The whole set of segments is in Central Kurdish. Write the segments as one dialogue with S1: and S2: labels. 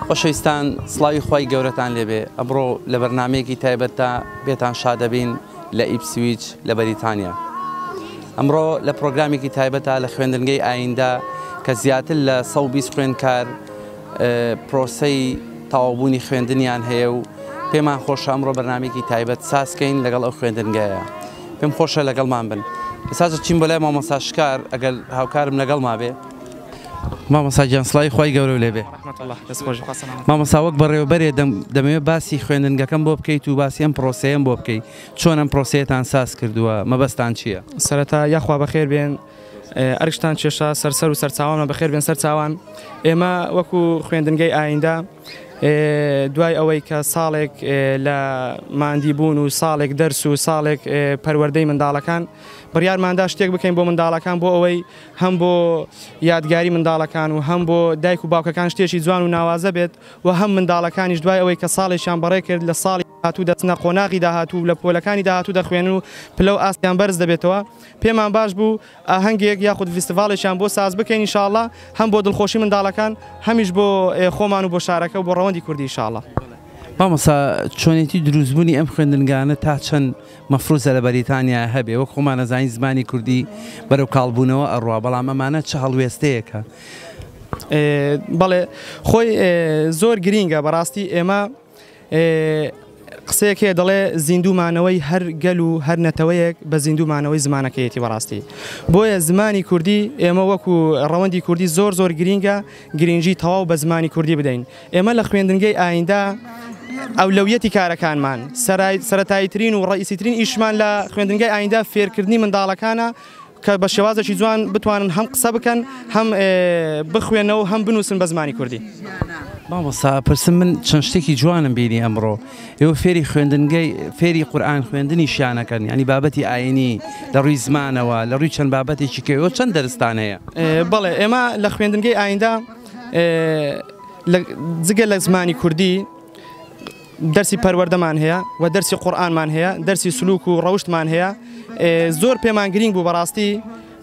S1: خۆشەویستان سڵاوی خی گەورەتان لێبێ ئەمڕۆ لە بەرنمەیەکی تایبەتدا بێتان شادەبین لە ئیپسویچ لە بەریتانیا ئەمڕۆ لە پرۆگرامێکی تایبەتە لە خوێندنگەی ئایندە کە زیاتر لە 120 خوێندکار پرۆسەی تەواوبوونی خوێندنیان هەیە و پێمان خۆشە ئەمڕۆ بەرنمەیەکی تایبەت سازکەین لەگەڵ ئەو خوێندنگەیە پێم خۆشە لەگەڵمان بن ساز چین بۆ لای مامۆستا شکار ئەگەر هاوکارم لەگەڵ ما بێ مامۆستا گیان سڵاوی خی گەورە لێ بێ مامۆستا وەک بەڕێوەبەرێ دەمەوێت باسی خوێندنگەکەم بۆ بکەیت و باسی ئەم پرۆسەیەم بۆ بکەیت چۆن ئەم پرۆسەیەتان ساز کردووە مەبەستان چییە؟ سەرەتا یاخوا
S2: بەخێر بێن. ئەرکتان کێشا سەر سەر و سەرچاوانمان بەخێر بێن سەرچاوان ئێمە وەکو خوێندنگەی ئایندە دوای ئەوەی کە ساڵێک لە مادی بوون و ساڵێک دەرس و ساڵێک پەروەردەی منداڵەکان بڕیارماندا شتێک بکەین بۆ منداڵەکان بۆ ئەوەی هەم بۆ یادگاری منداڵەکان و هەم بۆ دایک و باوکەکان شتێکی جوان و ناوازە بێت و هەم منداڵەکانیش دوای ئەوەی کە ساڵێکیان بەڕێ کرد لە ساڵی داهاتوو دەچنە قۆناغی داهاتوو و لە پۆلەکانی داهاتوو دەخوێنن و پلە و ئاستیان بەرز دەبێتەوە، پێمان باش بوو ئاهەنگێک یاخود ڤیستیڤاڵێکیان بۆ ساز بکەین ان شاءاللە هەم بۆ دڵخۆشی منداڵەکان هەمیش بۆ خۆمان و بۆ شارەکە و بۆ ڕەوەندی کوردی ان شاءاللە. مامۆستا
S1: چۆنێتی دروست بونی ئەم خوێندنگانە تا چەند مەفروزە لە بەریتانیا هەبێ وەک خۆمان ئەزانین زمانی کوردی بەرەو کاڵ بونەوە ئەڕوا بەڵام ئەمانە چ هەڵوێستەیەکە؟
S2: بەڵێ خۆی زۆر گرینگە بەڕاستی ئێمە. قسەیەک هەیە دەڵێ زیندوو مانەوەی هەر گەل و هەر نەتەوەیەک بە زیندوو مانەوەی زمانەکەیەتی بەڕاستی بۆیە زمانی کوردی ئێمە وەکو ڕەوەندی کوردی زۆر زۆر گرینگە گرنگی تەواو بە زمانی کوردی بدەین ئێمە لە خوێندنگەی ئایندا ئەولەویەتی کارەکانمان سەرای سەتایی ترین و ڕئیسیترین ئیشمان لە خوێندنگەی ئایندا فێرکردنی منداڵەکانە کە بە شێوازێکی جوان بتوانن هەم قسە بکەن هەم بخوێنەوە هەم بنووسن بە زمانی کوردی. مامۆستا
S1: پرسم من چەند شتێکی جوانم بینی ئەمڕۆ ئێوە فێری خوێندنگەی فێری قورآن خوێندنی شانەکەن ینی بابەتی ئاینی لە ڕووی زمانەوە لە ڕووی چەند بابەتێکی کەەوە چەند دەرستان هەیە بەڵێ ئێمە
S2: لە خوێندنگەی ئایندا جگە لە زمانی کوردی دەرسی پەروەردەمان هەیە و دەرسی قورئانمان هەیە دەرسی سلوک و ڕەوشتمان هەیە زۆر پێمان گرنگ بوو بەڕاستی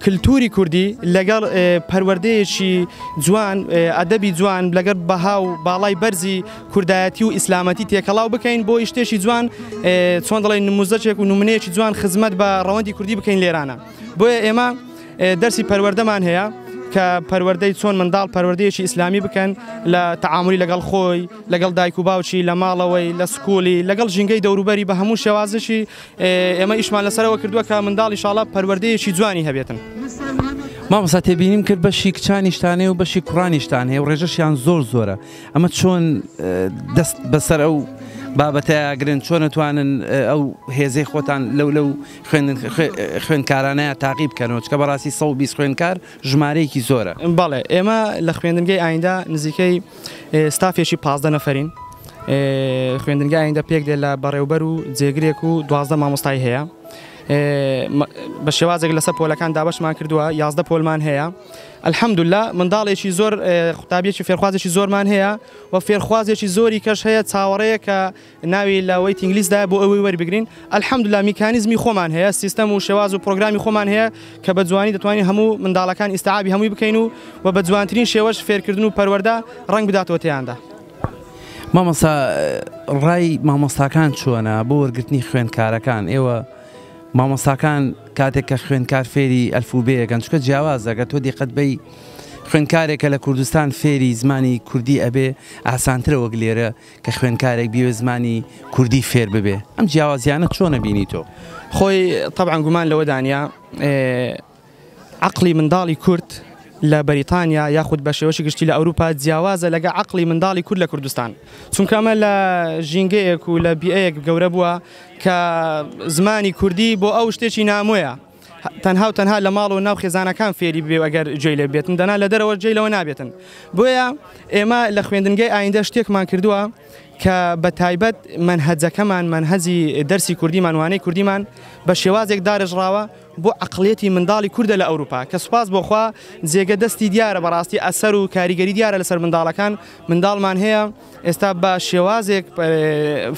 S2: کللتوری کوردی لەگەڵ پەروەردەیەکی جوان ئەدەبی جوان لەگەر بەها و باڵای بەرزی کوردایەتی و ئیسلامەتی تێکەڵاو بکەین بۆ یشتێکی جوان چۆن دەڵی نموزەچێک و نمونەیەکی جوان خزمەت بە ڕەوەندی کوردی بکەین لێرانە. بۆیە ئێمە دەرسی پەروەردەمان هەیە کە پەروەردەی چۆن منداڵ پەروەردەیەکی ئیسلامی بکەن لە تەعاملی لەگەڵ خۆی لەگەڵ دایک و باوکی لە ماڵەوەی لە سکولی لەگەڵ ژینگەی دەوروبەری بە هەموو شێوازشی ئێمە ئیشمان لەسەرەوە کردووە کە منداڵی شاڵە پەروەردەیەکی جوانی هەبێتن. مامۆستا
S1: تێبینیم کرد بەشی کچانیشتانێ و بەشی کوڕانیشتان هەیە و ڕێژەشیان زۆر زۆرە ئەمە چۆن دەست بەسەر ئەو بابەتەیەگرن چۆن نتوانن ئەو هێزەی خۆتان لەو لەو خوێندکارانەیە تاقی بکەنەوە، چکە بەڕاستی سەد و بیست خوێندکار ژمارەیەکی زۆرە. بەڵێ، ئێمە
S2: لە خوێندنگەی ئایندە نزیکەی ستافێکی پازدە نەفەرین، خوێندنگەی ئایندە پێک دێ لە بەڕێوبەر و جێگرێک و دوازدە مامۆستای هەیە، بە شێوازێک لەسەر پۆلەکان دابەشمان کردووە، یازدە پۆلمان هەیە، الحمدللە منداڵێکی زۆر قوتابیەکی فێرخوازێکی زۆرمان هەیە و فێرخوازێکی زۆری کەش هەیە چاوەڕێیە کە ناوی لە وەیتینگ لیست دایە بۆ ئەوەی وەربگرین الحمدللە میکانیزمی خۆمان هەیە سیستەم و شێواز و پرۆگرامی خۆمان هەیە کە بە جوانی دەتوانین هەموو منداڵەکان ئیستعابی هەمووی بکەین و و بە جوانترین شێوەش فێرکردن و پەروەردە ڕەنگ بداتەوە تێیاندا.
S1: مامۆستا ڕای مامۆستاکان چۆنە بۆ وەرگرتنی خوێندکارەکان ئێوە مامۆستاکان کاتێک کە خوێندکار فێری ئەلفوبێیەکەن چونکە جیاوازە گەر تۆ دیقەت بەی خوێندکارێکە لە کوردستان فێری زمانی کوردی ئەبێ ئاسانترە وەک لێرە کە خوێندکارێک بیەوێت زمانی کوردی فێر ببێ ئەم جیاوازیانە چۆنە بینی تۆ؟ خۆی طبعا
S2: گومان لەوە دانە عقلی منداڵی کورد لە بەریتانیا یاخود بە شێوەشی گشتی لە ئەوروپا جیاوازە لەگە عقلی منداڵی کورد لە کوردستان چونکەمە لە ژینگەیەک و لە بیەیەک گەورە بووە کە زمانی کوردی بۆ ئەو شتێکی نامۆیە تەنها و تەنها لە ماڵ و ناو خێزانەکان فێری ببێ و ئەگەر جێی لێ بێتن دەنا لە دەرەوە جێی لەوە نابێتن بۆیە ئێمە لە خوێندنگەی ئایندە شتێکمان کردووە کە بە تایبەت منهەجەکەمان منهەزی دەرسی کوردیمان وانەی کوردیمان بە شێوازێک دارێژراوە بۆ عقلێتی منداڵی کووردە لە ئەوروپا کە سوپاس بۆخوا جێگە دەستی دیارە بەڕاستی ئەسەر و کاریگەری دیارە لەسەر منداڵەکان منداڵمان هەیە ئێستا بە شێوازێک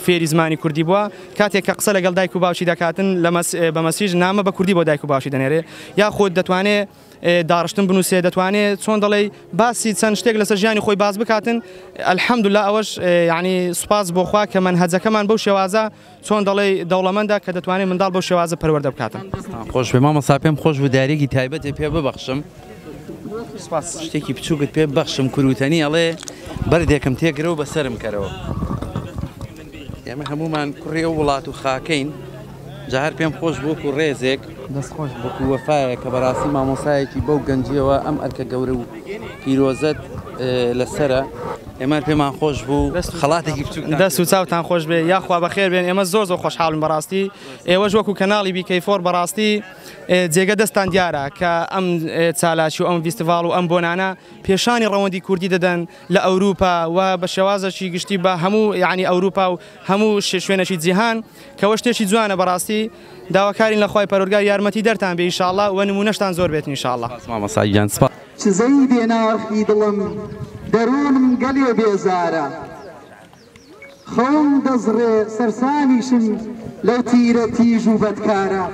S2: فێری زمانی کوردی بووە کاتێک کە قسە لەگەڵ دایک و باوکی دەکاتن لە بە مەسیژ نامە بە کوردی بۆ دایک و باشی دەنێرێ یاخود دەتوانێت داڕشتن بنووسێ دەتوانێت چۆن دەڵێ باسی چەند شتێک لەسەر ژیانی خۆی باز بکاتن ئەلحەمدولا ئەوەش یعنی سوپاس بۆخوا کە من هەجەکەمان بەو شێوازە چۆن دەڵێی دەوڵەمەندە کە دەتوانێت منداڵ بەو شێوازە پەروەردە بکاتن. دەستتان خۆش بێ مامۆستا
S1: پێم خۆش بوو داریێکی تایبەتێ پێ ببەخشم سپاس شتێکی بچووکت پێ ببەخشم کوروتەنی ئەڵێ بەردێکم تێگرە و بەسرم کەرەوە ئێمە هەمومان کوڕی ئەو وڵات و خاکەین جا هەر پێم خۆش بووکو ڕێزێک دەست خۆش بەکو وەفایە کە بەراستی مامۆسایەکی بەو گەنجیەوە ئەم ئەرکە گەورە و پیرۆزەت لەسەرە. ئێمە پێمان خۆش بوو خەڵاتێکی بچوک ناکرێت. دەست و چاوتان خۆش
S2: بێ یاخوا بەخێر بێن ئێمە زۆر زۆر خۆشحاڵین بەڕاستی ئێوەش وەکو کەناڵی بی کەی فۆر بەڕاستی جێگە دەستان دیارە کە ئەم چالاکی و ئەم ڤیستیڤاڵ و ئەم بۆنانە پێشانی ڕەوەندی کوردی دەدەن لە ئەوروپا و بە شێوازەکی گشتی بە هەموو یانی ئەوروپا و هەموو شوێنەکی جیهان کەوە شتێکی جوانە بەڕاستی داواکارین لە خوای پەروەرگار یارمەتی دەرتان بێ ئیشاڵا وە نمونەشتان زۆر بێت ئینشاڵا. سپاس مامۆستا گیان سپاس.
S1: چزەی بێ
S3: ناخی دڵم دەرونم گەلێ بێزارە خەوم دەزڕێ سەرسامیشم لەو تیرە تیژ و بەدکارە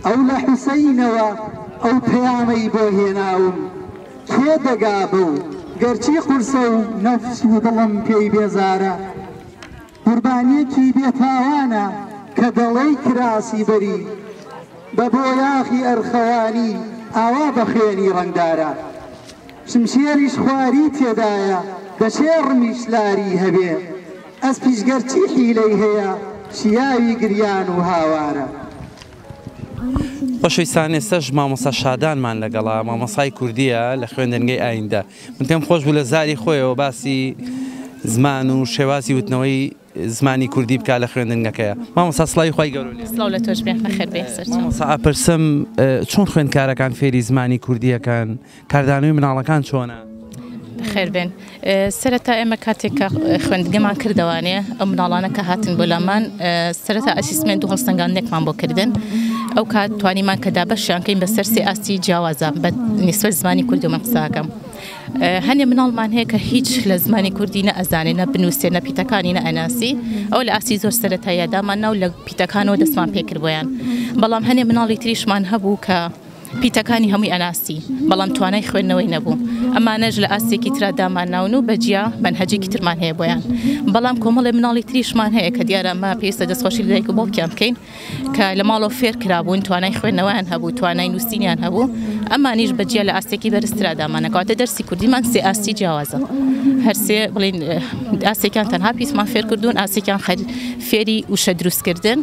S3: ئەو لە حوسەینەوە ئەو پەیامەی بۆ هێناوم کێ دەگا بەو گەرچی قورسە و نەفس و دڵم پێی بێزارە قوربانیەکی بێ تاوانە کە دەڵێی کراسی بەری بە بۆیاخی ئەرخەوانی ئاوا بە خوێنی ڕەنگدارە شمشێریش خواری تێدایە دەشێ ڕمیش لاری هەبێ ئەسپیش گەر چی حیلەی هەیە شیاوی گریان و هاوارە.
S1: خۆشەویستان ئێستەش مامۆستا شادانمان لەگەڵە مامۆسای کوردیە لە خوێندنگەی ئایندە من پێم خۆش بوو لە زاری خۆیەوە باسی زمان و شێوازی وتنەوەی زمانی کوردی بکا لە خوێندنگەکەیە مامۆستا سڵاوی خوای گەورە لێ سڵاو لە تۆش بێ خێر
S4: بێ سەر مامۆستا ئەپرسم
S1: چۆن خوێندکارەکان فێری زمانی کوردیەکان کاردانەوەی مناڵەکان چۆنە خێربێن
S4: سەرەتا ئێمە کاتێک کە خوێندگەمان کردوانێ ئەم مناڵانە کە هاتن بۆ لامان سەرەتا ئەسیسمنت و هەڵسەنگاندێکمان بۆ کردن ئەو کات توانیمان کە دابەشیان کەین بە سەر سێ ئاستی جیاوازە بە نیسبەت زمانی کوردی من قسە ئەکەم هەنێ مناڵمان هەیە کە هیچ لە زمانی کوردی نە ئەزانێ نە بنووسێ نە پیتەکانی نە ئەناسی ئەو لە ئاستی زۆر سەتایە دامان ناو لە پیتەکانەوە دەستمان پێکرد بۆیان بەڵام هەنێ مناڵی تریشمان هەبوو کە پیتەکانی هەمووی ئەناستی بەڵام توانای خوێندنەوەی نەبوو ئەمانەش لە ئاستێکی تررا دامان ناون و بەجیا بەنهجێکی ترمان هەیە بۆیان بەڵام کۆمەڵی مناڵی تریشمان هەیە کە دیارە مە پێویستە دەستخۆشی لەدایک و باوکیان بکەین کە لە ماڵەوە فێر کرابوون توانای خوێندنەوەیان هەبوو توانای نووسینیان هەبوو ئەمانیش بەجیا لە ئاستێکی بەرزترا دامانەکەواتە دەرسی کوردیمان سێ ئاستی جیاوازە هەرسێ بڵین ئاستێکیان تەنها پیسمان فێر کردوون ئاستێکیان خەر فێری وشە دروستکردن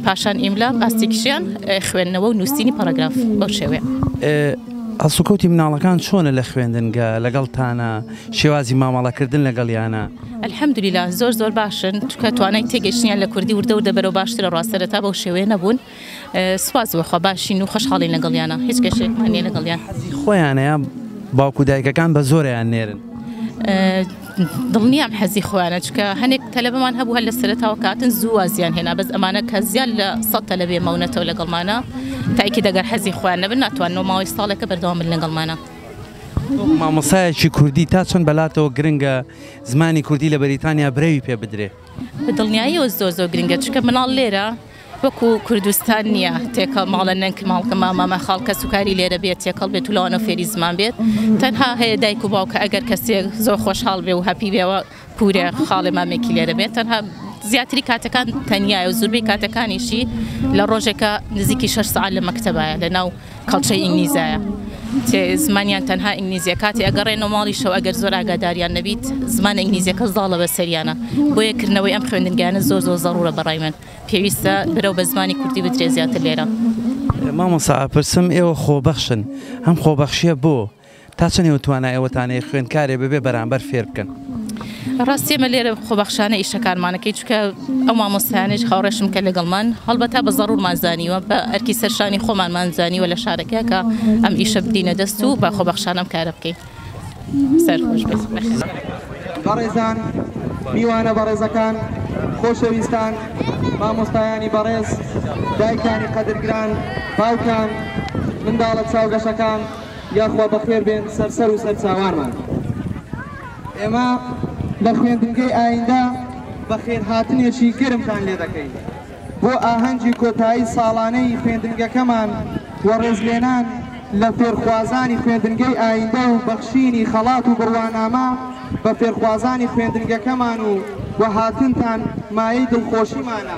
S4: پاشان ئیملا ئاستێکیشیان خوێندنەوە و نووسینی پەرگراف بەو شێوەیە.
S1: هەڵسوکەوتی مناڵەکان چۆنە لە خوێندنگە لەگەڵتانە شێوازی مامەڵەکردن لەگەڵیانە؟ الحمدللە
S4: زۆر زۆر باشن چونکە توانای تێگەیشتنیان لە کوردی وردە وردە بەرەو باشترە ڕا سەرەتا بەو شێوەیە نەبوون سوپاس بۆخوا باشین و خۆشحاڵین لەگەڵیانا هیچ کێشەیەکمان نیە لەگەڵیان. حەزی خۆیانەیە
S1: باوک و دایکەکان بە زۆرەیان نێرن. دڵنیام
S4: حەزی خۆیانە چونکە هەنێک تەلەبەمان هەبوو هەر لە سەرەتاوە کە هاتن زوو وازیان هێنا بەس ئەمانە کە زیاد لە سەد تەلەبێ ماونەتەوە لەگەڵمانا تایکید ئەگەر حەزی خۆیان نەبن ناتوانن و ماوەی ساڵێکە بەردەوام بن لەگەڵمانا. وەک
S1: مامۆستایەکی کوردی تا چەند بەلاتەوە گرنگە زمانی کوردی لە بەریتانیا برەوی پێ بدرێ؟ بە دڵنیاییەوە
S4: زۆر زۆر گرنگە چونکە مناڵ لێرە وەکو کوردستان نییە تێکە ماڵە نەنک ماڵکە مامامە خاڵ کەس و کاری لێرە بێت تێکەڵ بێت و لەوانە فێری زمان بێت تەنها هەیە دایک و باوکە ئەگەر کەسێک زۆر خۆشحاڵ بێ و هەپی بێەوە پورێ خاڵێ مامێکی لێرە بێت تەنها زیاتری کاتەکان تەنیایە و زوربەی کاتەکانیشی لە ڕۆژێکە نزیکی شش سعات لە مەکتتەبایە لە ناو کەڵچەی ئینگلیزایە تێ زمانیان تەنها ئینگلیزیە کاتی ئەگەڕێن و ماڵی شەو ئەگەر زۆر ئاگاداریان نەبیت زمان ئینگلیزیەکە زاڵە بە سەریانە بۆیە کردنەوەی ئەم خوێندنگانە زۆر زۆر زەڕورە بەڕای من پێویستە برەو بە زمانی کوردی بدرێ زیاتر لێرە مامۆسا
S1: پرسم ئێوە خۆبەخشن ئەم خۆبەخشیە بۆ؟ تا چەند ئێوە توانای ئەوەتان هەیە خوێندکارێ بەبێ بەرامبەر فێر بکەن؟ ڕاستی
S4: ئێمە لێرە خۆبەخشانە ئیشەکانمان دەکەین، چونکە ئەو مامۆستایانەیش هاوڕێشن کە لەگەڵمان هەڵبەتە بە زەڕوورمان زانیوە، بە ئەرکی سەر شانی خۆمانمان زانیوە لە شارەکە کە ئەم ئیشە بدینە دەست و بە خۆبەخشانە ئەم کارە بکەین. سەرخۆش بێت.
S3: بەڕێزان، میوانە بەڕێزەکان، خۆشەویستان، مامۆستایانی بەڕێز، دایکانی قەدرگران، باوکان، منداڵە چاوگەشەکان، یاخوا بەخێر بێن سەر سەر و سەر چاوانمان. ئێمە لە خوێندنگەی ئایندە بەخێرهاتنێکی گەرمتان لێ دەکەین بۆ ئاهەنگی کۆتایی ساڵانەی خوێندنگەکەمان و ڕێزلێنان لە فێرخوازانی خوێندنگەی ئایندە و بەخشینی خەڵات و بڕوانامە بە فێرخوازانی خوێندنگەکەمان و هاتنتان مایەی دڵخۆشیمانە.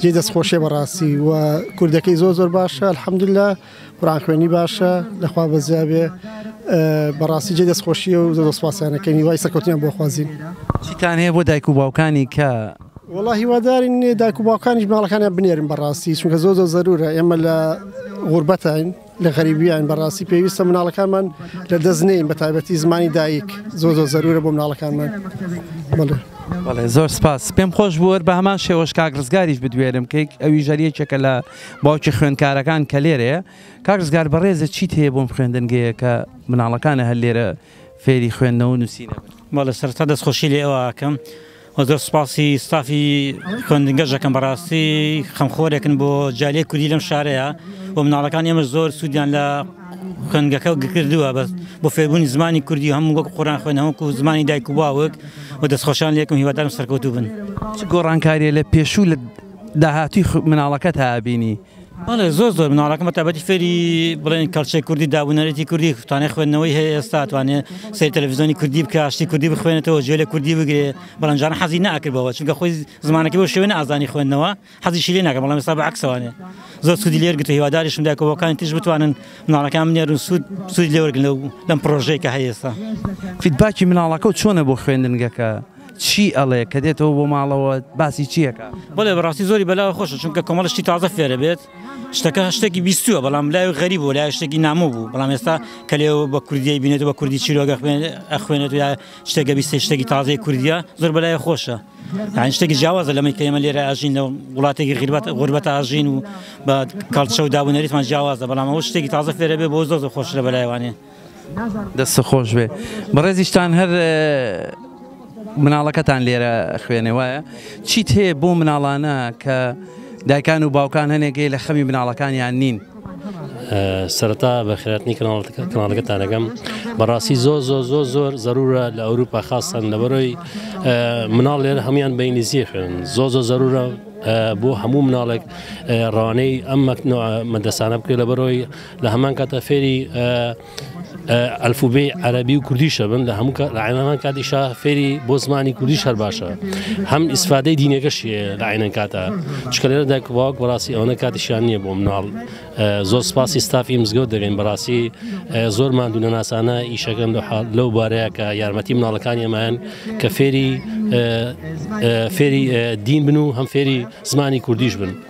S5: جێی دەست خۆشیە بەڕاستی و کوردەکەی زۆر زۆر باشە الحەمدللا قورآن خوێنی باشە لەخوا بەزیابێ بەڕاستی جێ دەست خۆشیە و زۆر سپاسیانەکەی وای سەرکەوتنیان بۆ خوازین چیتان هەیە بۆ
S1: دایک و باوکانی کە والله هیوادارین
S5: دایک و باوکانیش ماڵەکانیان بنێرن بەڕاستی چونکە زۆر زۆر زەرورە ئێمە لە غوربەتین لە غەریبیان بەڕاستی پێویستە مناڵەکانمان لە دەست نین بە تایبەتی زمانی دایک زۆ زۆ زەرورە بۆ مناڵەکانمان بڵێ
S1: بەڵێ زۆر سپاس پێم خۆش بووەر بە هەمان شێوەش کاک ڕزگاریش بدوێرم کەیک ئەوی ژەریەکێکە لە باوکی خوێندکارەکان کە لێرەیە کاک ڕزگار بەڕێزە چیت هەیە بۆم خوێندنگەیە کە مناڵەکانە هەر لێرە فێری خوێندنەوە نووسینە مەڵە سەرتا
S6: دەستخۆشی لێ ئەوواکەم وە زۆر سوپاسی ستافی خوێندنگەش دەکەم بەڕاستی خەمخۆرێکن بۆ جالی کوردی لەم شارەیە و مناڵەکان ئێمە زۆر سوودیان لە خوێندگەکە و گکردووە بەس بۆ فێربوونی زمانی کوردی هەموو وەک قۆران خوێنەوەک و زمانی دایک و باوک و دەستخۆشان لێکم هیوادارم سەرکەوتوو بن. چ گۆڕانکاریە
S1: لە پێشوو لە داهاتووی مناڵەکەت هابینی؟ بەڵێ زۆر زۆر
S6: مناڵەکەم بە تابەتی فێری بڵێن کەڵچەی کوردی دابوونەرێتی کوردی توانێت خوێندنەوەی هەیە ئێستا توانێ سەی تەلەڤزیۆنی کوردی بکە شتی کوردی بخوێنێتەوە جوێ لە کوردی بگرێ بەڵەنجان حەزی ناکردەوە چونکە خۆی زمانەکە بۆ شوێن ئازانی خوێندنەوە حەزی شیرێ ناکە بەڵام سا بەعکسوانێ زۆر سودی لێر گرتە هیواداریشم داکەوەکانی تیش بتوانن مناڵەکان منێرن سوود سوود لێوەرگن لەو لەم پرۆژەیە کە هەیە ئێستا فیدباکی
S1: مناڵەکە و چۆنە بۆ خوێندنگەکە؟ چی ئەڵێ کە دێتەوە بۆ ماڵەوە باسی چی ئەکا؟ بەڵێ بەڕاستی زۆری
S6: بەلاوە خۆشە چونکە کۆمەڵە شتی تازە فێرە بێت شتەکە شتێکی بیستووە بەڵام لای غەریب بوو لای شتێکی نامۆ بوو بەڵام ئێستا کە لێ بە کوردی بینێت بە کوردی چیرۆگە خوێنێت یا شتێکە بیست شتێکی تازەی کوردیا زۆر بەلای خۆشە یان شتێکی جیاوازە لەمەی کە ئێمە لێرە ئاژین لە وڵاتێکی غیربەت غوربەت ئاژین و بە کاڵچە و دابوونەریتمان جیاوازە بەڵام ئەو شتێکی تازە فێرە بێ بۆ زۆر خۆشرە بەلایوانێ دەست
S1: خۆش بێ بەڕێزیشتان هەر مناڵەکەتان لێرە خوێنێ وایە چیت هەیە بۆ مناڵانە کە دایکان و باوکان هەنێکگەی لە خەمی مناڵەکانیان نین
S7: سەرتا بە خێراتنی کەناڵەکە کەناڵەکەتانەکەم بەڕاستی زۆر زۆر زۆر زۆر زەرورە لە ئەوروپا خاستن لەبەرۆی مناڵ لێر هەموان بە ئینگلیزیە خوێن زۆ زۆ زەرورە بۆ هەموو مناڵێک ڕانەی ئەم مەدەسانە بکرێت لە بەرۆی لە هەمان کاتە فێری ئەلفوبێی عەربی و کوردیشە بن لە هەموو لە عینەمان کاتیشا فێری بۆ زمانی کوردیش هەر باشە هەم ئیسفادەی دینەکەش لە عینەن کاتە چکەێرە دەکباوک بەڕاستی ئەوەنە کاتیشان نییە بۆ مناڵ زۆر سپاسی ستافی مزگەوت دەگەین بەڕاستی زۆر مادوو نەناسانە ئیشەکەن لەو بارەیە کە یارمەتی مناڵەکانی ئەمایان کە فێری فێری دین بن و هەم فێری زمانی کوردیش بن.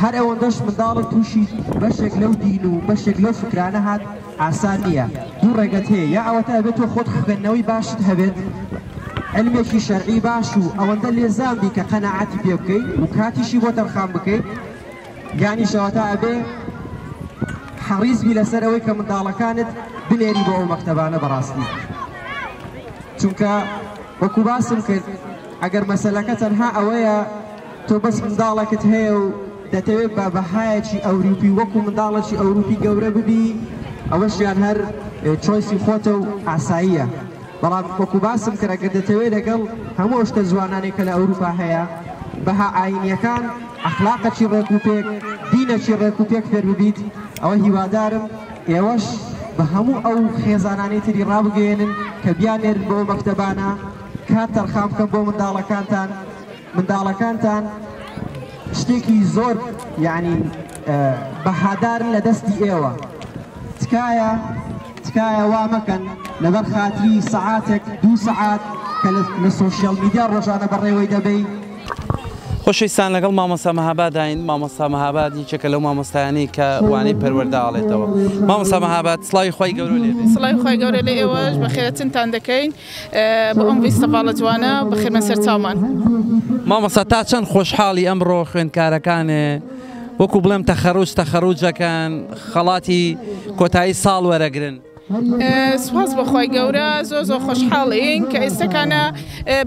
S3: هەر ئەوەندەش منداڵت تووشی بەشێک لەو دین و بەشێک لەو فکرانە هات ئاسان نییە دوو ڕێگەت هەیە یا ئەوەتا ئەبێت تۆ خۆت خوێندنەوەی باشت هەبێت علمێکی شەرعی باش و ئەوەندە لێزان بی کە قەنەعاتی پێ بکەیت و کاتیشی بۆ تەرخان بکەیت یانی شەوەتا ئەبێ حەڕیز بی لەسەر ئەوەی کە منداڵەکانت بنێری بۆ ئەو مەکتەبانە بەڕاستی چونکە وەکو باسم کرد ئەگەر مەسلەکە تەنها ئەوەیە تۆ بەس منداڵەکت هەیە و دەتەوێت بە بەهایەکی ئەوروپی وەکو منداڵێکی ئەوروپی گەورە ببی ئەوەشیان هەر چۆیسی خۆتە و ئاساییە بەڵام وەکو باسم کرد ئەگەر دەتەوێت لەگەڵ هەموو ئەو شتە جوانانەی کە لە ئەوروپا هەیە بەها ئاینیەکان ئەخلاقەکی ڕێک و پێک دینەکی ڕێک و پێک فێر ببیت ئەوە هیوادارم ئێوەش بە هەموو ئەو خێزانانی تری ڕابگەێنن کە بیانێرن بۆ مەکتەبانە کات تەرخان بکەن بۆ منداڵەکانتان منداڵەکانتان شتێکی زۆر یعنی بەهادارن لە دەستی ئێوە تکایە تکایە وا مەکەن لەبەر خاتری سەعاتێک دوو سەعات کە لە سوۆشیال میدیا ڕۆژانە بەڕێوەی دەبەی خۆشەویستان
S1: لەگەڵ مامۆستا مەهاباداین مامۆستا مەهاباد یەکێکە لەو مامۆستایانی کە وانەی پەروەرداڵێتەوە مامۆستا مەهاباد سڵاوی خی گەورە لێ سڵای خی گەورە لە
S8: ئێوەش بە خێرەتنتان دەکەین بۆ ئەم ویستە باڵە جوانە بەخێرمەن سەر چاومان. مامۆستا
S1: تا چەند خۆشحاڵی ئەمڕۆ خوێندکارەکانێ وەکو بڵێم تەخەروج تەخەروجەکەن خەڵاتی کۆتایی ساڵ وەرەگرن سوپاس
S8: بەخوای گەورە زۆ زۆ خۆشحاڵین کە ئێستەکانە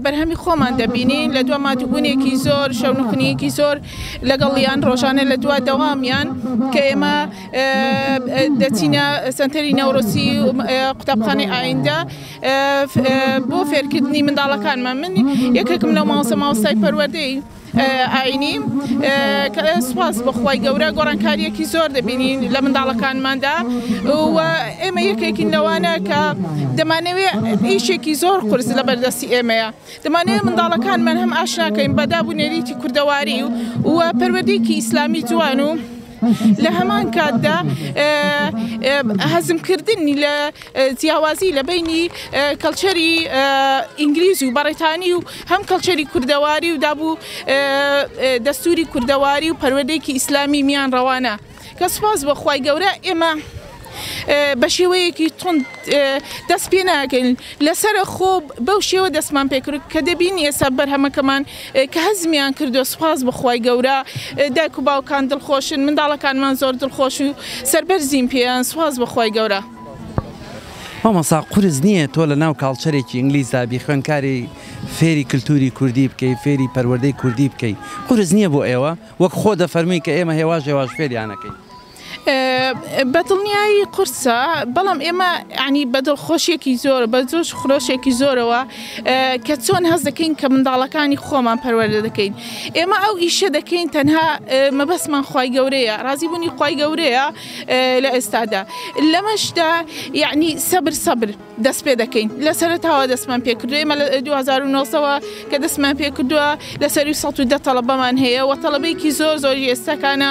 S8: بەرهەمی خۆمان دەبینین لە دوا مادوبوونێکی زۆر شەونخنیەکی زۆر لەگەڵیان ڕۆژانە لە دوا دەوامیان کە ئێمە دەچینە سنتەری نەورۆسی قوتابخانەی ئایندە بۆ فێرکردنی منداڵەکانمان من یەکێکم لەو ماوسە ماوەستای پەروەدەی ئاینی سپاس بەخوای گەورە گۆڕانکاریەکی زۆر دەبینین لە منداڵەکانماندا ئێمە یەکێکین لەوانە کە دەمانەوێ ئیشێکی زۆر قرس لە بەردەستی ئێمەیە دەمانەوێ منداڵەکانمان هەم ئاشناکەین بەداب و نەریتی کوردەواری و پەروەدەیەکی ئیسلامی جوان و لە هەمان کاتدا هەزمکردنی لە جیاوازی لە بینی کەڵچەری ئینگلیز و بەڕێتانی و هەم کەڵچەری کوردەواری و دابوو دەستوری کوردەواری و پەروەدەیەکی ئیسلامی میان ڕەوانە کە سپاس بۆ خوای گەورە ئێمە بەشێوەیەکی توند دەست پێ ناکەین لەسرە خۆ بەو شێوە دەستمان پێکرد کە دەبین ئێستا بەرهەمەکەمان کە هەزمیان کردو سوپاس بخوای گەورە دایک و باوکان دڵخۆشن منداڵەکانمان زۆر دڵخۆش و سەربەرزین پێیان سوپاس بخوای گەورە.
S1: مامۆسا قورس نییە تۆ لە ناو کاڵچەرێکی ئینگلیزدا بی خوێندکاری فێری کلتوری کوردی بکەی فێری پەروەردەی کوردی بکەی قورس نییە بۆ ئێوە وەک خۆ دەفەرمووی کە ئێمە هێواش هێواش فێریانەکەین. بەدڵنیایی
S8: قورسە بەڵام ئێمە ینی بەدڵ خۆشیێکی زۆر بە زۆش خرۆشێکی زۆرەوە کە چۆن هەز دەکەین کە منداڵەکانی خۆمان پەروەەردە دەکەین ئێمە ئەو ئیشە دەکەین تەنها مەبەستمان خی گەورەیە ڕازی بوونی خی گەورەیە لە ئێستادا لەمەشدا یعنی سەبر سەبر دەست پێ دەکەین لە سەرتاوە دەستمان پێکردو ئێمە لە 2009ەوە کە دەستمان پێکردووە لە سەری 110 تەڵەبەمان هەیە و تەڵەبێکی زۆر زۆری ئێستاکانە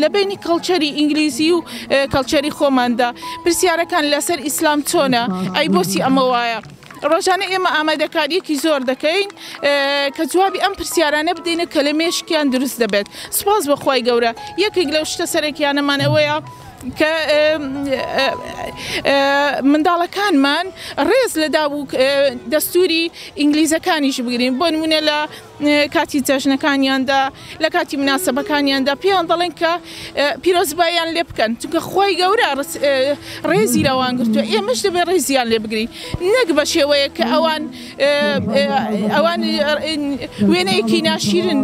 S8: لە بەینی کەڵچەری ئینگلیزی و کەڵچەری خۆماندا پرسیارەکان لە سەر ئیسلام چۆنە؟ ئەی بۆچی ئەمە وایە؟ ڕۆژانە ئێمە ئامادەکاریەکی زۆر دەکەین کە جوابی ئەم پرسیارانە بدەینە کە لە مێشکیان دروست دەبێت سوپاس بۆ خوای گەورە یەکێک لەو شتە سەرەکیانەمان ئەوەیە کە منداڵەکانمان ڕێز لە داب و دەستوری ئینگلیزەکانیش بگرین بۆ نمونە لە کاتی جەژنەکانیاندا لە کاتی مناسبەکانیاندا پێیان دەڵێن کە پیرۆزبایان لێ بکەن چونکە خی گەورە ڕێزی لەوان گرتووە ئێمەش دەبێت ڕێزیان لێ بگرین نەک بە شێوەیە کە ئەوان ئەوان وێنەیەکی ناشیرن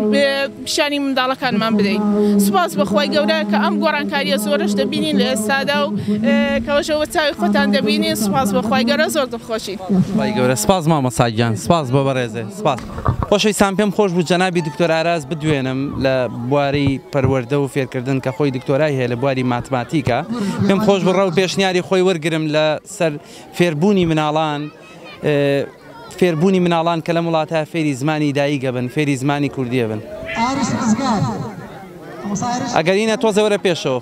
S8: پیشانی منداڵەکانمان بدەین سوپاس بەخوای گەورە کە ئەم گۆڕانکاریە زۆرش دەبینین لە ئێستادا و کەەوەشەوە چاوی خۆتان دەبینین سوپاس بەخوای گەورە زۆر دڵخۆشی گەورە سپاس
S1: مامەساگیان سپاس بە بەڕێزێ سپاس خۆشەویستان پێم خۆش بوو جەنابی دکتۆر ئاراس بدوێنم لە بواری پەروەردە و فێرکردن کە خۆی دکتۆرای هەیە لە بواری ماتماتیکا پێم خۆش بوو ڕەو پێشنیاری خۆی وەرگرم لە سەر فێربوونی مناڵان فێربوونی مناڵان کە لەم وڵاتە فێری زمانی داییگە بن فێری زمانی کوردیە بن ئەگەرینە تۆزێ وەرە پێشەوە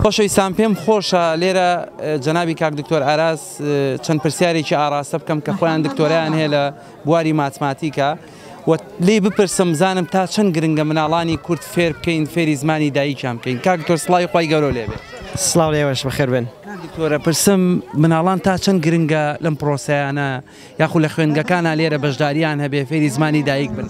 S1: خۆشەویستان پێم خۆشە لێرە جەنابی کاک دکتۆر ئاراس چەند پرسیارێکی ئاراستە بکەم کە خۆیان دکتۆرایان هەیە لە بواری ماتماتیکە و لی بپرسم زانم تا چەند گرنگە مناڵانی کورد فێر بکەین فێری زمانی دایکیان بکەین کاک دکتۆر سڵاوی خی گەورە لێ بێت سلااو لێوەش
S2: بەخێر بن دکتۆرە پرسم
S1: مناڵان تا چەند گرنگە لەم پرۆسیانە یاخو لە خوێندگەکانە لێرە بەشداریان هەبێ فێری زمانی دایک بن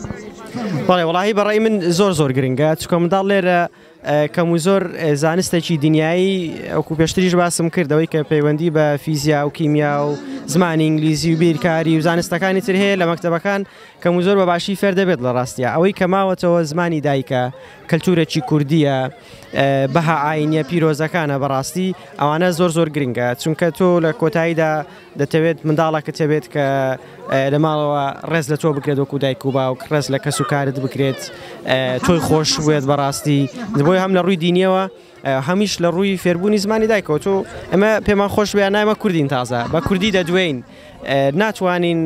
S1: بەڵێ وڵی
S2: بەڕی من زۆر زۆر گرنگە چکۆ منداڵ لێرە کەم و زۆر زانستێکی دنیایی وەکو پێشتریش باسم کرد ئەوەی کە پەیوەندی بە فیزیا و کیمیا و زمانی ئینگلیزی و بیرکاری و زانستەکانی تر هەیە لە مەکتتەبەکان کەم و زۆر بە باشی فێر دەبێت لە ڕاستە ئەوەی کە ماوەتەوە زمانی دایکە کەلتورێکی کوردیە بەها ئاینە پیرۆزەکانە بەڕاستی ئەوانە زۆر زۆر گرنگە چونکە تۆ لە کۆتاییدا دەتەوێت منداڵەکەت هەبێت کە لە ماڵەوە ڕێز لە تۆ بکرێت وەکو دایک و باوک ڕێز لە کەس و کارت بکرێت تۆی خۆش بێت بەڕاستی بۆی هەم لە ڕووی دینیەوە
S9: هەمیش لە ڕووی فێربوونی زمانی دایکەوە تۆ ئەمە پێمان خۆش بێ نایمە کوردین تازە بە کوردی دەدوێین ناتوانین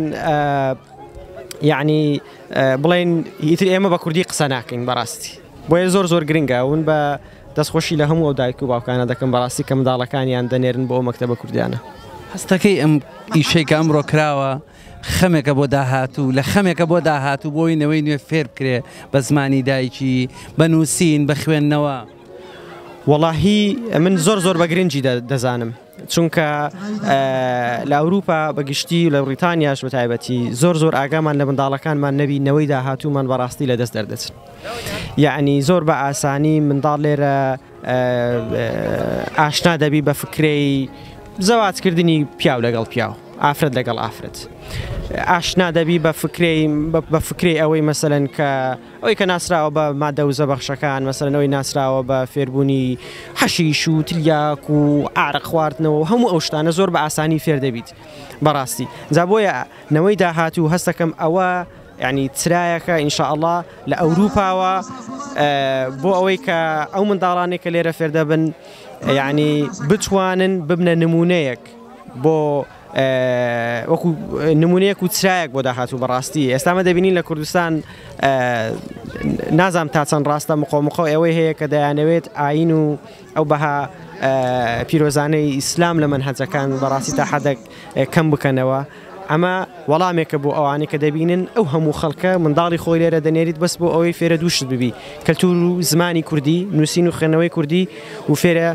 S9: یعنی بڵێن ئیتر ئێمە بە کوردی قسە ناکەین بەڕاستی بۆیە زۆر زۆر گرنگە ون بە دەست خۆشی لە هەموو ئەو دایک و باوکانە دەکەم بەڕاستی کە منداڵەکانیان دەنێرن بۆ ئەو مەکتەبە کوردیانە. هەستەکەی ئەم
S1: ئیشەی کە ئەمڕۆ کراوە خەمێکە بۆ داهاتوو لە خەمێکە بۆ داهاتوو بۆی نەوەی نوێ فێر بکرێ بە زمانی دایکی بە نووسین بە خوێندنەوە. وەڵاهی
S9: من زۆر زۆر بە گرنگی دەزانم. چونکە لە ئەوروپا بە گشتی و لە بڕیتانیاش بە تایبەتی زۆر زۆر ئاگامان لە منداڵەکانمان نەبی نەوەی داهاتوومان بەڕاستی لە دەست دەردەچن یعنی زۆر بە ئاسانی منداڵ لێرە ئاشنا دەبی بە فکرەی زەواتکردنی پیاو لەگەڵ پیاو ئافرەت لەگەڵ ئافرەت ئاشنا دەبی بە فکرەی بە فکرەی ئەوەی مەسەن کە ئەوەی کە ناسراوە بە مادە وزە بەخشەکان مەسەلەن ئەوەی ناسراوە بە فێربوونی حەشیش و تلیاک و ئارەق خواردنەوە و هەموو ئەو شتانە زۆر بە ئاسانی فێر دەبیت بەڕاستی جا بۆیە نەوەی داهاتوو هەستەکەم ئەوە یعنی چرایەکە ئینشاءاللە لە ئەوروپاوە بۆ ئەوەی کە ئەو منداڵانێک کە لێرە فێردەبن یعنی بتوانن ببنە نمونەیەک بۆ وەکو نمونەیەک و چرایەک بۆ داهاتوو بەڕاستی ئێستا ئەمە دەبینین لە کوردستان نازانم تا چەند ڕاستە مقۆمقۆ ئەوەی هەیە کە دەیانەوێت ئاین و ئەو بەها پیرۆزانەی ئیسلام لە منهەجەکان بەڕاستی تا حەدەک کەم بکەنەوە ئەمە وەڵامێکە بۆ ئەوانەی کە دەبینن ئەو هەموو خەڵکە منداڵی خۆی لێرە دەنێریت بەس بۆ ئەوەی فێرە دووشت ببی کەلتور و زمانی کوردی نووسین و خوێنەوەی کوردی و فێرە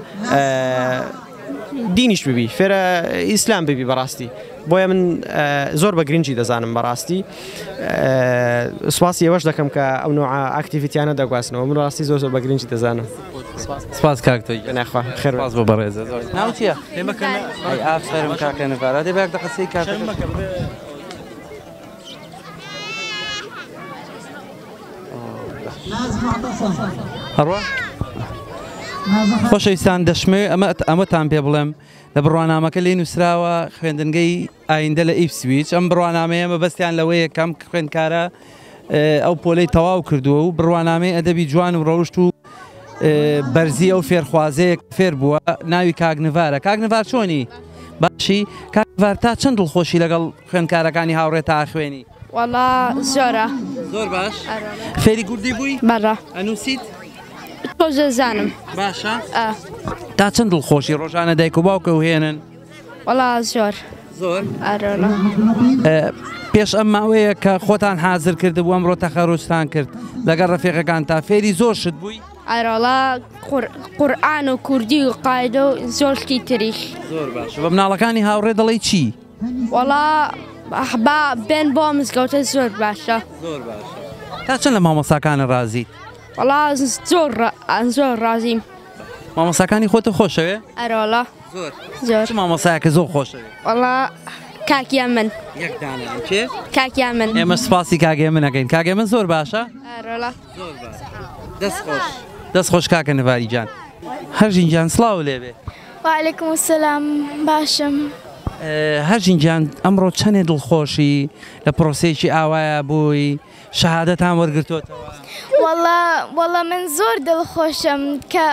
S9: دینیش ببی فێرە ئیسلام ببی بەڕاستی بۆیە من زۆر بە گرنگی دەزانم بەڕاستی سواسی ئەوەش دەکەم کە ئەو نوع ئاکتیڤیتیانە دەگواستنەوە من ڕاستی زۆر زۆر بە گرنگی دەزانم سپاس
S1: کاکتۆی ناخوا خێر باز بۆ
S9: بەڕێز
S1: ناوچە ئافرم کاکە نەبارا دەبێت دە قسەی کاکە خۆشەویستان دەشمەوێت ئەمە ئەمەتان پێ بڵێم لە بڕوانامەکە لی نووسراوە خوێندنگەی ئایندە لە ئیفسویچ ئەم بڕوانامەیە مەبەستیان لەوەیە کەم خوێندکارە ئەو پۆلەی تەواو کردووە و بڕوانامەی ئەدەبی جوان و ڕەوشت و بەرزی ئەو فێرخوازەیەک فێر بووە ناوی کاگنڤارە کاگنڤار چۆنی باشی کاگنڤار تا چەند دڵخۆشی لەگەڵ خوێندکارەکانی هاوڕێ تا خوێنی؟ وەڵا
S10: زۆرە. زۆر باش
S1: فێری کوردی بووی؟ بەڵا ئەنووسیت؟ تۆزە
S10: زانم باشە؟
S1: تا چەند دڵخۆشی ڕۆژانە دایک و باوکە و هێنن؟ وەڵا
S10: زۆر زۆر
S1: پێش ئەم ماوەیە کە خۆتان حازر کرد بوو ئەمڕۆ تەخەرۆستان کرد لەگەڵ ڕفێقەکان تا فێری زۆر شت بووی ئەرۆڵا
S10: قورآان و کوردی و قاعدە و زۆر شتی تریش بە
S1: مناڵەکانی هاوڕێ دەڵی چی؟ وەڵا
S10: با بێن بۆ مزگەوتە زۆر باشە زۆر باش
S1: تا چەند لە مامۆستاکانە ڕازیت وەڵا
S10: زۆر ڕ- ئان زۆر ڕازیم مامۆستاکانی
S1: خۆتە خۆشەوێ ئەرۆڵا زۆر
S10: زۆر چ
S1: مامۆستایەکە زۆر خۆشەوێ وەڵا
S10: کاکیان من یەک دانە کێ
S1: کاکیان من ئێمە
S10: سپاسی کاگێ
S1: منەکەین کاگێ من زۆر باشە ئەرۆڵا زۆر
S10: باش دەست خۆش
S1: دەست خۆش کاکە نڤاریجان هەرژین جان سڵاو لێبێ وعلیکم
S11: السلام باشم.
S1: هەژین گیان ئەمڕۆ چەندێ دڵخۆشی لە پرۆسەیەکی ئاوایە بووی شەهادەتان وەرگرتوتەوە وەڵا
S11: وەڵا من زۆر دڵخۆشم کە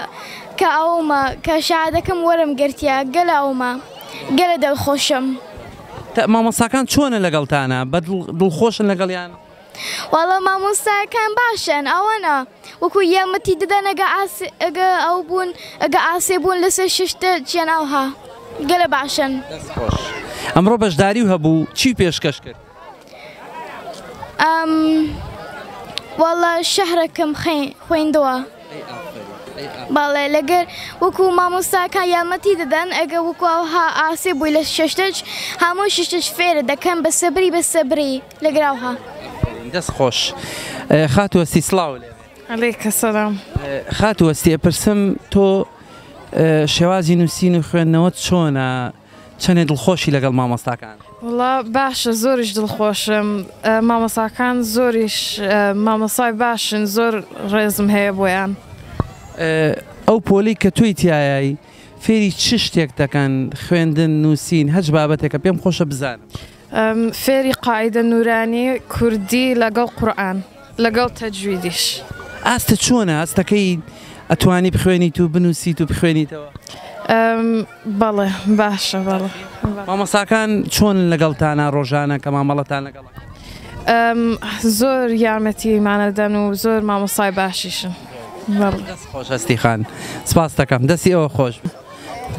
S11: کە ئەومە کە شادەکەم وەرم گرتیا گەل ئەومە گەلە دڵخۆشم
S1: مامەساکان چۆنە لەگەڵتانە بە دڵخۆشن لەگەڵیان واڵا
S11: مامۆستایەکان باشن ئەوەنە وەکو یەمەتی ددەن ئەگە ئەگە ئەو بوون ئەگە ئاسێ بوون لەسەر ششتە چیان ئاوها گەلە باشن
S1: ئەمڕۆ بەشداری و هەبوو چی پێشکەش کرد ئەم
S11: واڵا شەهرەکەم خوێندەوە باڵێ لەگەر وەکو مامۆستاکە یامەتی دەدەن ئەگە وەکوها ئاسێ بووی لە شەشتەج هەموو ششتش فێرە دەکەم بە سەبری بە سەبری لە گراوها. دەست
S1: خۆش خاتوەستی سلااو لێ علیکە سەلام
S12: خاتوەستی
S1: ئەپرسم تۆ شێوازی نووسین و خوێندنەوە چۆنە چەندێ دڵخۆشی لەگەڵ مامۆستاکان وڵا باشە
S12: زۆریش دڵخۆشم مامۆساکان زۆریش مامۆسای باشن زۆر ڕێزم هەیە بۆیان
S1: ئەو پۆلی کە توی تایایی فێری چ شتێک دەکەن خوێندن نووسین هەچ بابەتێکە پێم خۆشە بزانم. فێری
S12: قاعیدە نورانی کوردی لەگەڵ قورئان لەگەڵ تەجویدیش. ئاستە چۆنە ئاستەکەی
S1: ئەتوانی بخوێنیت و بنووسیت و بخوێنیتەوە؟
S12: بەڵێ باشە بەڵێ مامۆساکان
S1: چۆن لەگەڵتانە ڕۆژانە کە مامەڵەتان لەگەڵ
S12: زۆر یارمەتیمانەدەن و زۆر مامۆسای باشیشن
S1: خۆشەستی خان سپاس دەکەم دەستی ئەوە خۆش.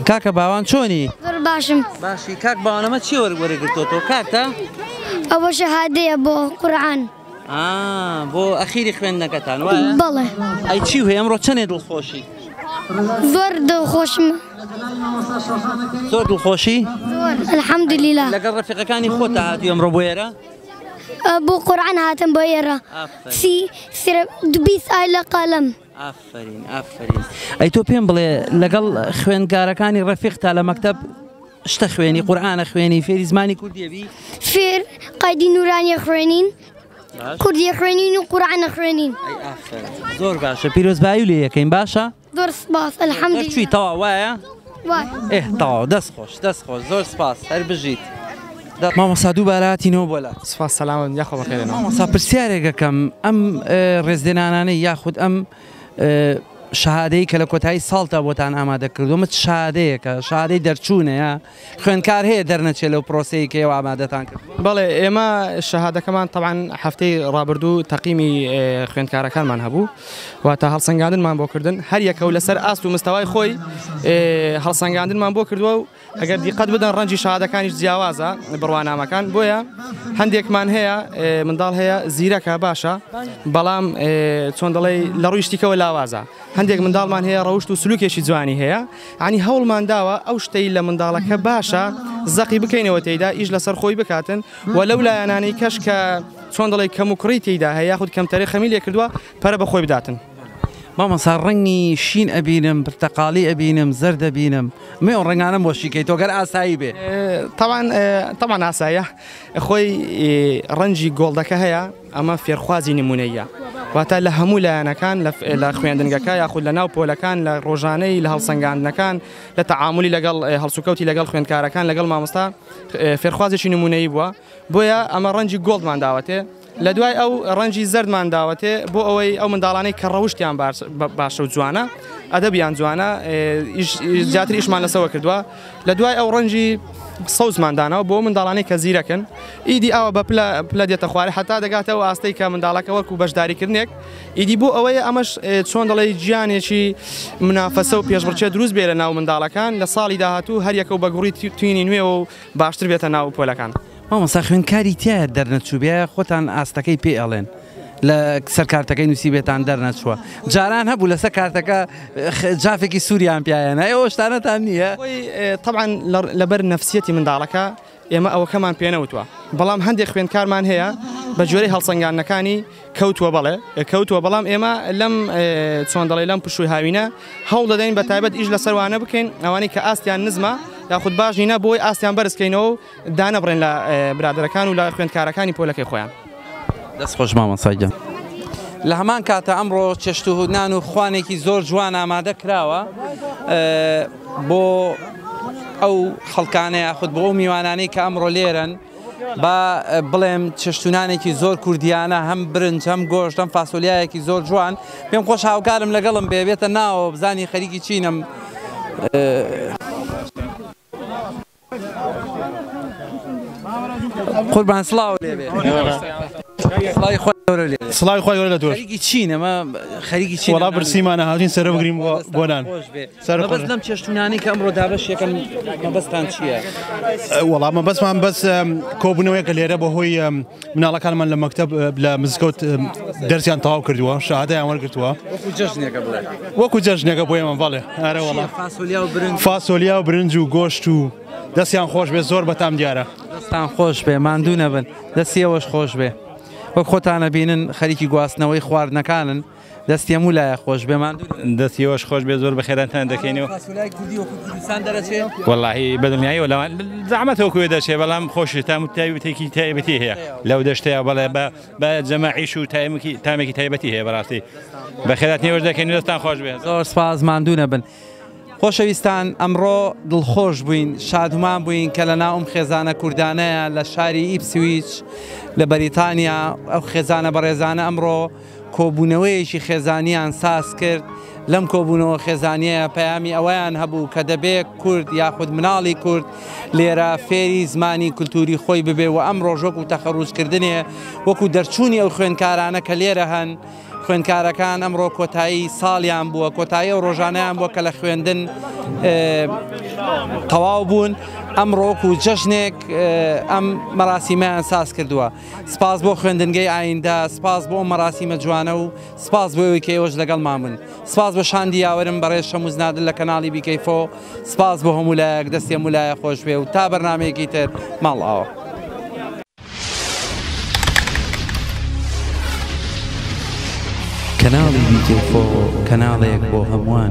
S1: کاکە باوان چۆنی؟ زۆر باشم.
S10: باشی کاک باوان
S1: ئەمە چیە وەری گرتۆتەوە کارتە؟ ئەوە
S10: شەهادەیە بۆ قورعان. ئا
S1: بۆ ئەخیری خوێندنەکەتان وایە؟ بەڵێ. ئەی چی
S10: وهەیە ئەمڕۆ
S1: چەنێ دڵخۆشی؟
S10: زۆر دڵخۆشم.
S1: زۆر دڵخۆشی؟ زۆر
S10: الحمدللە. لەگەڵ ڕەفیقەکانی
S1: خۆتا هاتوی ئەمڕۆ بۆ ئێرە؟ بۆ
S10: قورعان هاتم بۆ ئێرە. ئافەرین. سی سرە دوبی سایلە قەلەم.
S1: ئافەرین ئافەرین ئەی تۆ پێم بڵێ لەگەڵ خوێندگارەکانی ڕەفیقتا لە مەکتب شتە خوێنی قورآانە خوێنی فێری زمانی کوردیەوی فێر
S10: قایدی نورانیە خوێنین کوردی خوێنین و قورآانە خوێنین زۆر
S1: باشە پیرۆزبایی لە یەکەین باشە زۆر سپاس
S10: ئەلحەمدی چی تەوا وایە؟
S1: ئێه
S10: تەواو دەست
S1: خۆش دەست خۆش زۆر سپاس هەر بژیت مامۆستا دووبارە هاتینەوە بۆ لات سپاس سەلامت یاخۆ
S2: بەخێرێنەوە مامۆستا پرسیارێک
S1: ئەکەم ئەم ڕێزلێنانانەی یاخود ئەم شادەی کە لە کۆتایی ساڵتا بۆتان ئامادە کردومە شادەیەکە شادەی دەرچوونەیە خوێنکار هەیە دەرنەچێت لەو پرۆسەیە کە ئێوە ئامادەتان کرد بەڵێ ئێمە
S2: شەهادەکەمان تەوان هەفتەی ڕابردوو تەقیمی خوێندکارەکانمان هەبوو واتە هەڵسەنگاندنمان بۆ کردن هەر یەکە و لەسەر ئاست و مستەوای خۆی هەڵسەنگاندنمان بۆ کردووە و ئەگەر دیقەت بدەن ڕەنجی شادەکانیش جیاوازە بڕوانامەکان بۆیە هەندێکمان هەیە منداڵ هەیە زیرەکە باشە بەڵام چۆن دەڵێ لە ڕویشتیکەوە لاوازە هەندێک منداڵمان هەیە ڕەوشت و سلوکێکی جوانی هەیە عنی هەوڵمان داوە ئەو شتەی لە منداڵەکە باشە زەقی بکەینەوە تێدا ئیش لەسەر خۆی بکاتن و لەو لایەنانەی کەش کە چۆن دەڵێی کەم و کوڕی تیدا هەیە یاخود کەمتەرێ خەمی لێ کردووە پەرە بە خۆی بداتن. مامۆستا
S1: ڕەنگی شین ئەبینم پرتەقاڵی ئەبینم زەرد دەبینم من ئەو ڕەنگانەم بۆ شیکەیتەوە گەر ئاسایی بێ تەوان
S2: تەوان ئاسایە خۆی ڕەنجی گۆڵدەکە هەیە ئەمە فێرخوازی نمونەیە واتە لە هەموو لایەنەکان لە خوێندنگەکە یاخود لە ناو پۆلەکان لە ڕۆژانەی لە هەڵسەنگاندنەکان لە تەعاعملی لەگەڵ هەڵسوکەوتی لەگەڵ خوێندکارەکان لەگەڵ مامۆستا فێرخوازێکی نموونەیی بووە، بۆیە ئەمە ڕەنجی گۆڵدمان داوەتێ، لە دوای ئەو ڕەنجی زەردمان داوەتێ، بۆ ئەوەی ئەو منداڵانەی کە ڕەوشتیان باشە و جوانە، ئەدەبیان جوانە، زیاتر ئیشمان لەسەوە کردووە، لە دوای ئەو ڕەنجی سەوزمان داناوە بۆ ئەو منداڵانەی کە زیرەکن، ئیدی ئاوا بە پلە پلە دێتە خوارێ، هەتا دەگاتە ئەو ئاستەی کە منداڵەکە وەکوو بەشداریکردنێک، ئیدی بۆ ئەوەیە ئەمەش چۆن دەڵێی جیانێکی منافەسە و پێشبڕکێ دروست بێ لە ناو منداڵەکان لە ساڵی داهاتوو هەر یەکە و بە گوڕی توینی نوێوە و باشتر بێتە ناو پۆلەکان. مامۆستا خوێندکاری
S1: تیایە دەرنەچووبێ خۆتان ئاستەکەی پێ ئەڵێن لە سەر کارتەکەی نوسیبێتان دەرنەچووە جاران هەبوو لەسەر کارتەکە جافێکی سوریان پیایەنا ئێوە شتانەتان نییە؟ تەبعەن
S2: لەبەر نەفسیەتی منداڵەکە. ئێمە ئەوەکەمان پێنەوتوە بەڵام هەندێک خوێندکارمان هەیە بە جۆرەی هەڵسەنگاندنەکانی کەوتوە بەڵێ کەوتوە بەڵام ئێمە لەم چۆن دەڵێ لەم پشووی هاوینە هەوڵ دەدەین بە تایبەت ئیش لەسەروانە بکەین ئەوانەی کە ئاستیان نزمە یاخود باش نینە بۆی ئاستیان بەرزکەینەوە دانەبڕێن لە برادەرەکان و لە خوێندکارەکانی پۆلەکەی خۆیان. دەست خۆش
S1: مامۆستا گیان. لە هەمان کاتە ئەمڕۆ چێشت و نان و خوانێکی زۆر جوان ئامادە کراوە بۆ ئەو خەڵکانە یاخود بۆ ئەو میوانانەی کە ئەمڕۆ لێرەن با بڵێم چێشتونانێکی زۆر کوردیانە هەم برنج هەم گۆشت هەم فاسۆلیایەکی زۆر جوان پێم خۆش هاوکارم لەگەڵم بێ بێتە ناوە بزانی خەریکی چینم قوربان سڵاو لێ بێ سڵاوی خۆ گەورە
S13: لێ بێ. سڵاوی خۆی گەورە لە تۆش خەریکی چین ئەمە
S1: خەریکی چین وەڵا برسیمانە هاتین سەرە
S13: بگریم بۆ بۆنان سەر بەس لەم
S1: چێشتونانەی کە ئەمڕۆ دابەش یەکەم مەبەستان چییە؟ وەڵامە
S13: بەسمان بەس کۆبوونەوەیەکە لێرە بەهۆی مناڵەکانمان لە مەکتەب لە مزگەوت دەرسیان تەواو کردووە شەهادەیان وەرگتووە وەکو جەژنێکە بۆ ئێمە بەڵێ ئارەوەڵە فاسۆلیا و برنج و گۆشت و دەستیان خۆش بێ زۆر بەتام دیارە دەستان خۆش بێ
S1: ماندوو نەبن دەستیەوەش خۆش بێ وەک خۆتانە بینن خەریکی گواستنەوەی خواردنەکانن دەستی هەموو لایە خۆش بێ ماندوو نەبن. دەستی ئێوەش خۆش بێت
S14: زۆر بەخێراتان دەکەین. فاسۆلیای کوردی وەکو کوردستان دەرەچێ؟ وەڵاهی بەدڵنیایەوە لەوان زەحمەت وەکو ئێوە دەرچێ بەڵام خۆشی تام و تایبەتێکی تایبەتی هەیە لەو دەشتەیا بەڵێ بە بە جەماعیش و تایمکی تامێکی تایبەتی هەیە بەڕاستی بەخێراتنی ئێوەش دەکەین و دەستان خۆش بێ. زۆر سپاس ماندوو
S1: نەبن. خۆشەویستان ئەمڕۆ دڵخۆش بووین شادومان بووین کە لە ناوم خێزانە کوردانەیە لە شاری ئیپسویچ لە بەریتانیا ئەو خێزانە بەڕێزانە ئەمڕۆ کۆبوونەوەیەکی خێزانیان ساز کرد لەم کۆبوونەوە خێزانیە پەیامی ئەوەیان هەبوو کە دەبێ کورد یاخود مناڵی کورد لێرە فێری زمانی کولتوری خۆی ببێ و ئەم ڕۆژۆک و تەخەڕوزکردنێ وەکو دەرچوونی ئەو خوێنکارانە کە لێرە هەن خوێندکارەکان ئەمڕۆ کۆتایی ساڵیان بووە کۆتایی ئەو ڕۆژانیان بووە کە لە خوێندن تەواو بوون ئەم ڕۆک و جەژنێک ئەم مەراسیمەیان ساز کردووە سپاس بۆ خوێندنگەی ئایندە سپاس بۆ مەراسیمە جوانە و سپاس بۆەوەی کە ئێوەش لەگەڵ مامن سپاس بۆ شاندی یاوەرم بەڕێز شەموزنادل لە کەناڵی بیکەیفۆ سپاس بۆ هەمولایەک دەستێ مولایە خۆشبێ و تا بەرنمەیەکی تر ماڵ ئاوە.
S15: کەناڵی دیجێ فۆ کەناڵێک بۆ هەمووان.